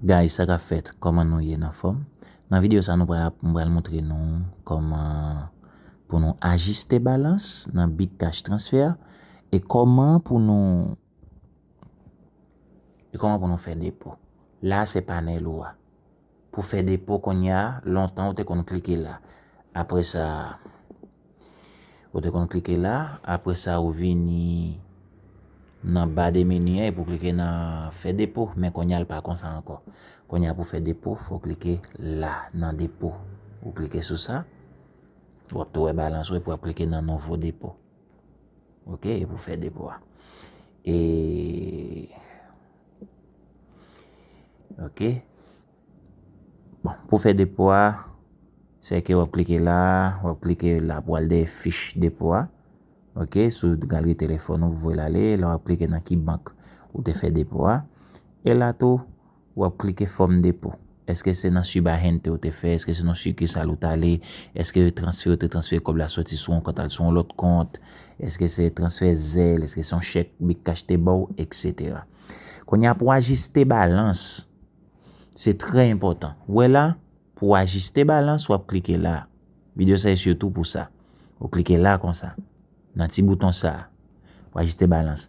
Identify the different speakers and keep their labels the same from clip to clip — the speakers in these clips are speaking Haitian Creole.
Speaker 1: Guys sa kap fèt kòman nou ye nan fòm nan video sa nou pral mwen pral montre nou kòman pou nou ajiste balans nan bit tach transfè a e kòman pou nou e kòman pou nou fè depo la se panèl ou a. pou fè depo konnya lontan ou te konn klike la apre sa ou te konn klike la apre sa ou vini nan ba de meni an epi ou klike nan fè depo men konnya li pa konsa ankò konnya pou fè depo fò klike la nan depo ou klike sou sa ou ap tou wè balans ou epi wap klike nan nouvo depo ok epi ou fè depo a e. Ok. Bon, pou fè depo a, se ke wap klike la, wap klike la pou al de fich depo a. Ok, sou galri telefon ou vwe la le, la wap klike nan ki bank ou te fè depo a. E la tou, wap klike fòm depo. Eske se nan Ciba Gente ou te fè, eske se nan sikisal ou t ale, eske yo transfere ou te transfere kòb la soti sou yon kont al sou yon lòt kont, eske se transfè zèl, eske se yon chèk bKash te ba w, eksetera. Kounye a pou w ajiste balans, se trè enpòtan. Ou wè la, pou w ajiste balans, w ap klike la. Videyo sa e sitou pou sa. Ou klike la konsa, nan ti bouton sa a, pou ajiste balans.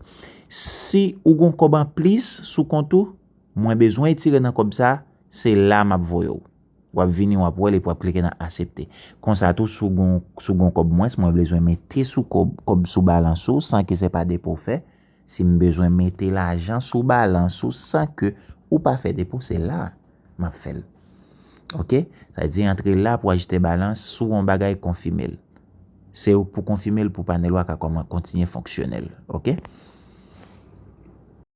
Speaker 1: Si ou gen yon kòb anplis sou kont ou. Mwen bezwen etire nan kòb sa, se la map voyew. Wap vini wap wèl epi wap klike nan asepte. Konsa tou si w gon kòb mwens mwen blezwen mete sou kòb sou balans ou san ke se pa depo w fè, sim bezwen mete lajan sou balans ou san ke ou pa fè depo se la map fèl. Ok, sa vle di antre la pou ajiste balans si w gon bagay konfime l. Se pou konfime l pou panel ou a ka kontinye fonksyonèl. Ok.